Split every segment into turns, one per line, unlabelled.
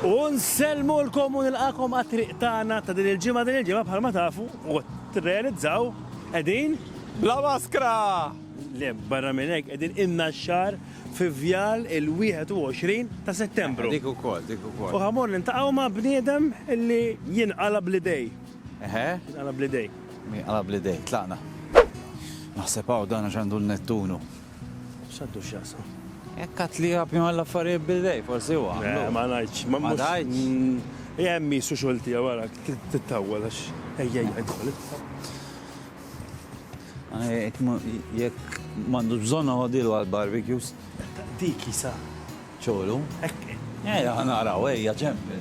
U nsellmulkom u nilqakom għat-triq tagħna ta' din il-ġimgħa. Din il-ġimgħa bħalma tafu u tirrealizzaw qegħdin bla maskra!
Le,
barra minn hekk qegħdin ilna xahar fi vjal il-21 ta' Settembru. Dik ukoll, dik ukoll.
U ħammor niltaqgħu
ma' bniedem li jinqala' bl-idej. Eħe. Jinqala'
bl-idej.
Jinqala' bl-idej.
Tlaqna. Naħseb hawn dan għax għandu l-Nettunu. X'għandu
x'jaqsam? Jekk għat li għab
jgħal affarijiet bil-dej, forsi huwa. Eh, ma ngħidx, ma
ngħidx.
Jem mm, jisu
xolti għara, t-tawwel għax, ejja jgħidħol.
Jekk mandu bżonna għodilu għal-barbecues. Dik jisa.
ċolu. Ejja, għanaraw,
ejja, ġempi.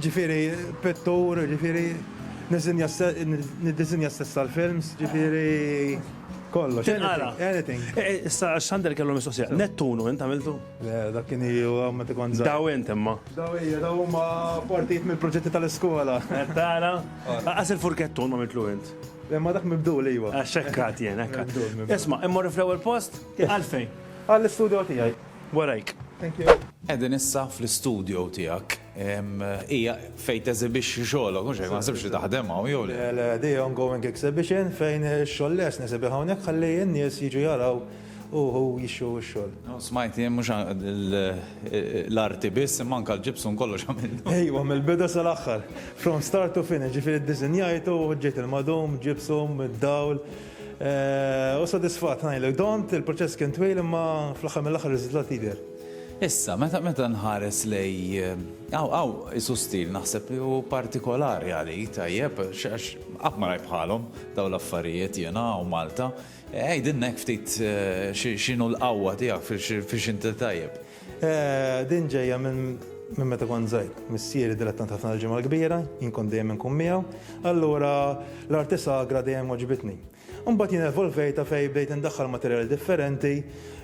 Ġifieri
pittur, ġifieri niżinja niddiżinja stess għall-films, ġifieri kollox. Tinqala. Anything. Issa Xander
kellu mistoqsija. Nettunu int għamiltu? Le, dak kien iju
ma tikon żgħir. Daw int imma. Daw
hija, daw huma
partijiet mill-proġetti tal-iskola. Qed tara?
Lanqas il-furkettun m'għamiltlu int. Imma dak mibdul
iva. Għax hekk għad jien, hekk
għad. Isma', immorru fl-ewwel post? Għalfejn? Għall-istudio
tiegħi. warajk. Thank
you.
Qegħdin issa
fl-istudio tiegħek. Hija fejn teżibixxi xogħolok, mhux hekk, ma naħsibx li taħdem hawn jew le. Le, le, di ongoing
exhibition fejn ix-xogħol lest nesibih hawnhekk ħalli n-nies jiġu jaraw u jixtru x-xogħol. Smajt jien mhux
l-arti biss imma anke l-gypsum kollox għamilt. Ejwa, mill-bidu
sal-aħħar. From start to finish, ġifieri ddisinjajtu, ġejt il-madum, gypsum, id-dawl. Hu sodisfatt, ngħidlek, Dont, il-proċess kien twil imma fl-aħħar mill-aħħar ir-riżultat jidher. Issa, meta
nħares lej, hawn hawn qisu stil naħseb li hu partikolari għalik, tajjeb, għax qatt ma rajt bħalhom dawn l-affarijiet jiena hawn Malta. Għidilna hekk ftit x'inhu l-qawwa tiegħek, fiex inti tajjeb. Din
ġejja minn meta kont żgħir. Missieri dilettant ħafna tal-Ġimgħa l-Kbira, jien kont dejjem inkun miegħu, allura l-arti sagra dejjem għoġbitni. Imbagħad jien evolvejtha fejn bdejt indaħħal materjali differenti,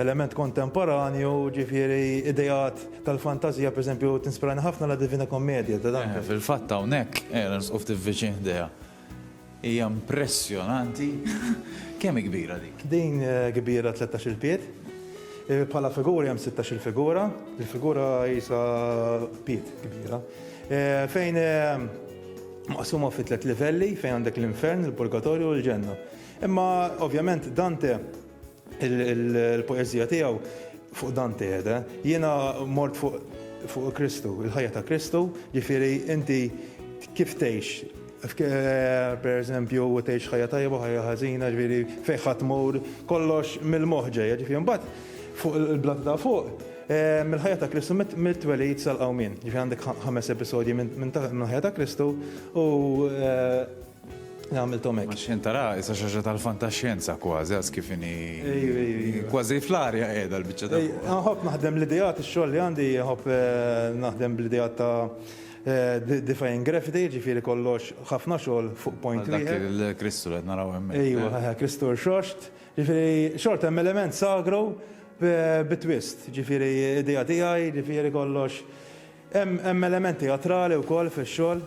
element kontemporanju, ġifieri ideat tal-fantażija, pereżempju tinspirani ħafna La Divina Commedia ta' Dante. Fil-fatt hawnhekk,
qiegħda nisqu ftit viċin ħdejha. Hija impressjonanti! Kemm hi kbira dik? Din kbira
tlettax-il pied. Bħala figuri hemm sittax-il figura. Il-figura qisha pied kbira. Fejn maqsuma fi tliet livelli fejn għandek l-infern, il-purgatorju u l-ġenna. Imma ovvjament Dante Il-poeżija tiegħu fuq dan tiegħda, jiena mort fuq Kristu, il-ħajja ta' Kristu, ġifieri inti kif tgħix Eh, per eżempju, u tgħix ħajja tajba, ħajja ħażina, ġifieri fejn ħadd mur, kollox mill-moħħ ġejja, ġifieri mbagħad fuq il-blat ta' fuq, eh, mill-ħajja ta' Kristu mit-twelid sal-qawmin. Ġifieri għandek ħames episodji minn ħajja ta' Kristu u eh, Għamilthom hekk. Ma xejn tara, issa xi ħaġa
tal-fantaxjenza kważi għas kif inhi. Ejju, ejju, ejju. Kważi fl-arja qiegħda l-biċċa ta' fuq. Nħobb naħdem l-ideat,
ix-xogħol li għandi nħobb naħdem bl-ideat ta' Defying Gravity, jiġifieri kollox ħafna xogħol fuq point wieħed. Dak il-Kristu li
qed naraw hemmhekk. Ejju, Kristu
rxoxt. Jiġifieri xorta hemm element sagru bi twist. Jiġifieri idea tiegħi, jiġifieri kollox Hemm element teatrali wkoll fix-xogħol.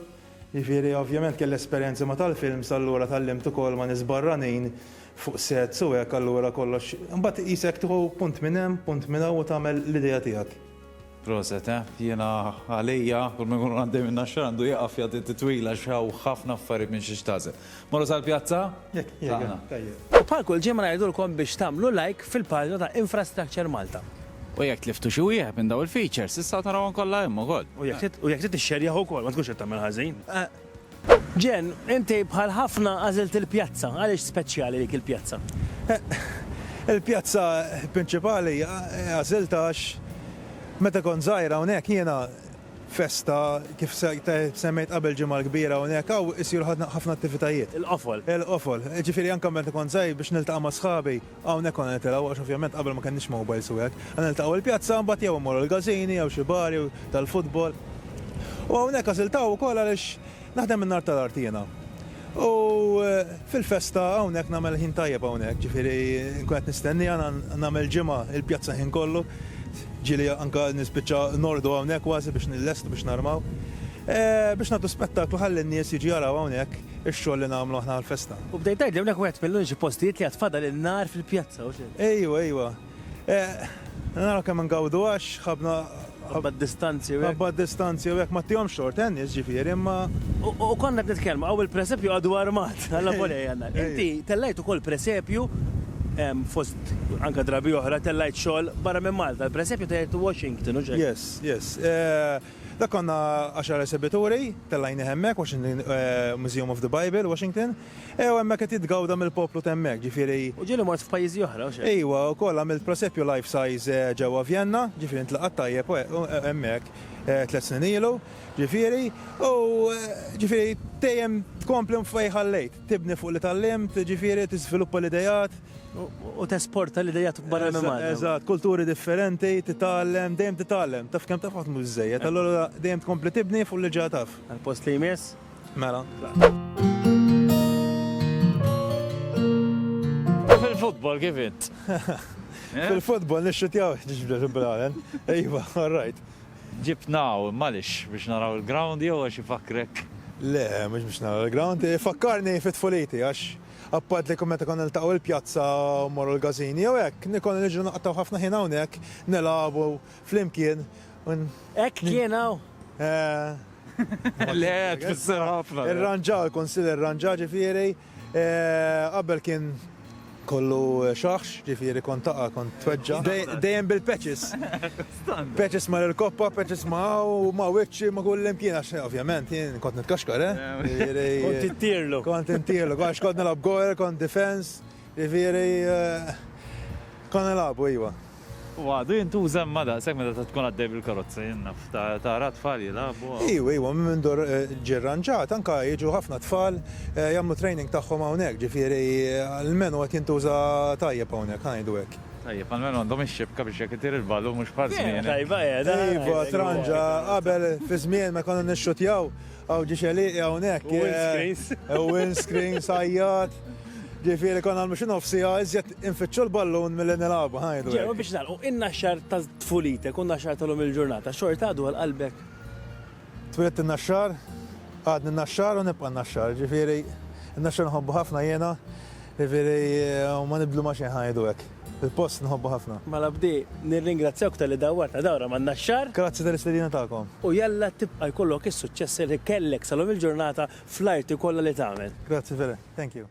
Jiġifieri ovvjament kelli esperjenzi ma' tal-films allura tgħallimt ukoll ma' nies barranin fuq sets u hekk allura kollox. Imbagħad qisek tieħu punt minn hemm, punt minn hawn u tagħmel l-idea tiegħek. Proset eh.
Jiena għalija kull ma jkun għaddej min-Naxxar għandu jieqaf jagħti titwila għax hawn ħafna affarijiet minn xiex tagħżel. Morru sal-pjazza? Jekk jiena, tajjeb.
U bħal kull ġimgħa ngħidulkom biex tagħmlu like fil-paġna ta' Infrastructure Malta. U jekk tliftu
xi wieħed minn dawn il-features, tistgħu tarawhom kollha hemm ukoll. U jekk trid
tixxerjah ukoll, ma tkunx qed tagħmel ħażin. Jen, inti bħal ħafna għażilt il-pjazza. Għaliex speċjali dik il-pjazza? Il-pjazza
prinċipali għażiltha għax meta kont żgħira hawnhekk jiena Festa, kif semmejt qabel ġimgħa l-kbira hawnhekk hawn isiru ħafna attivitajiet. Il-qofol. Il-qofol.
Jiġifieri
anke meta kont żgħir biex niltaqa' ma' sħabi, hawnhekk konna nitilgħu għax ovvjament qabel ma kenniex mowbajls u hekk. Konna niltaqgħu il-pjazza mbagħad jew immorru l-każini jew xi bar jew tal-futbol. U hawnhekk għażiltha ukoll għaliex Naħdem in-nhar tal-Art jiena. U fil-festa hawnhekk nagħmel ħin tajjeb hawnhekk, ġifieri nkun qed nistenniha nagħmel ġimgħa il-pjazza ħin kollu. Ġieli anke nispiċċa nordu hawnhekk kważi biex nillestu biex narmaw. Biex nagħtu spettaklu ħalli n-nies jiġu jaraw hawnhekk ix-xogħol li nagħmlu aħna għall-festa. U bdejt tgħidli hawnhekk wieħed
mill-uniċi postijiet li għad fadal in-nhar fil-pjazza, u x'inhu? Ejwa, ejwa.
Eh, naraw kemm ngawdu għax ħabna ħabba distanzi
u ħabba distanzi u hekk ma
tihom xort tennis ġifieri imma u konna qed
nitkellmu hawn il-presepju għadu armat għalla volej għandna. Inti tellajt ukoll presepju fost anka drabi oħra tellajt xogħol barra minn Malta. Il-presepju tellajt Washington u xejn. Yes, yes. Eh,
da konna għaxar esibituri, tellajni hemmek, Washington eh, Museum of the Bible, Washington. Eh, u hemmhekk qed jitgawda mill-poplu t'hemmhekk, ġifieri. U ġieli mort f'pajjiżi
oħra, u x'hekk? Ejwa, u wkoll għamilt
prosepju life size ġewwa Vjenna, ġifieri intlaqat tajjeb hemmhekk tliet snin ilu, ġifieri, u ġifieri dejjem tkompli fejn ħallejt, tibni fuq li tgħallimt, ġifieri tiżviluppa l-ideat. U
tesporta l-ideat barra minn Malta. Eżatt, kulturi
differenti, titgħallem, dejjem titgħallem, taf kemm taf ħadd mhu biżżejjed, allura dejjem tkompli tibni fuq li ġa taf. Għall-post li jmiss?
Mela.
U fil-futbol kif int? Eh?
Fil-futbol nixxutjaw ġibda ġibbralen. Ejwa, all right. Ġibnaw,
malix, biex naraw il-ground jew għax ifakrek. Le, mux biex
naraw il-ground, fakkarni fit fuliti għax appat li kummet ikon il-taqaw il-pjazza u morru l-gazini, jew hekk, nikon nġu naqtaw ħafna ħin hawnhekk, nelabu flimkien. Hekk
kien hawn? Eh,
Le, tfisser ħafna. Irranġa, l-Kunsill
irranġa ġifieri, qabel kien kollu xaħx, ġifieri kont taqa' kont tweġġa. Dejjem bil-patches. Patches ma' l-koppa, patches ma' u ma' wiċċi ma' kull imkien għax ovvjament jien kont nitkaxkar, eh? Kont
intirlu. Kont intirlu, għax
kont nilgħab goal, kont defense, ġifieri konna nilagħbu iva. U għadu
jintuża imma daqshekk meta tkun għaddej bil-karozza, jien naf, tara t-tfal jilagħbu hawn. Ejwa, ejwa, minn mindu
ġie rranġat, anke jiġu ħafna tfal jagħmlu training tagħhom hawnhekk, ġifieri l-menu qed jintuża tajjeb hawnhekk, ħa ngħidu hekk. Tajjeb, għall-menu għandhom
ix-xibka biex jekk itir il-ballun mhux bħal żmieni. Vera tajba, eh, dan! Ejwa,
tranġa, qabel fi żmienna konna nixxuttjaw. Hawn ġie xeliqi hawnhekk. U windscreens. U windscreens għajjat. Ġifieri konna nagħmlu xi nofs siegħa iżjed infittxu l-ballun milli nilagħbu ngħidu. Ġew biex nagħlqu inna
xahar ta' tfulitek u naxxar tal-lum il-ġurnata xorta għadu għal qalbek. Twilet
in-naxxar, għadni n-naxxar u nibqa' n-naxxar. Ġifieri n-naxxar nħobbu ħafna jiena, ġifieri ma nibdlu ma' xejn ngħidu hekk. Il-post nħobbu ħafna. Malabdi,
nirringrazzjawk talli dawwartna dawra man-Naxxar. Grazzi tal-istedina tagħkom.
U jalla tibqa'
jkollok is-suċċessi li kellek sa lum il-ġurnata fl-arti kollha li tagħmel. Grazzi Fele.
Thank
you.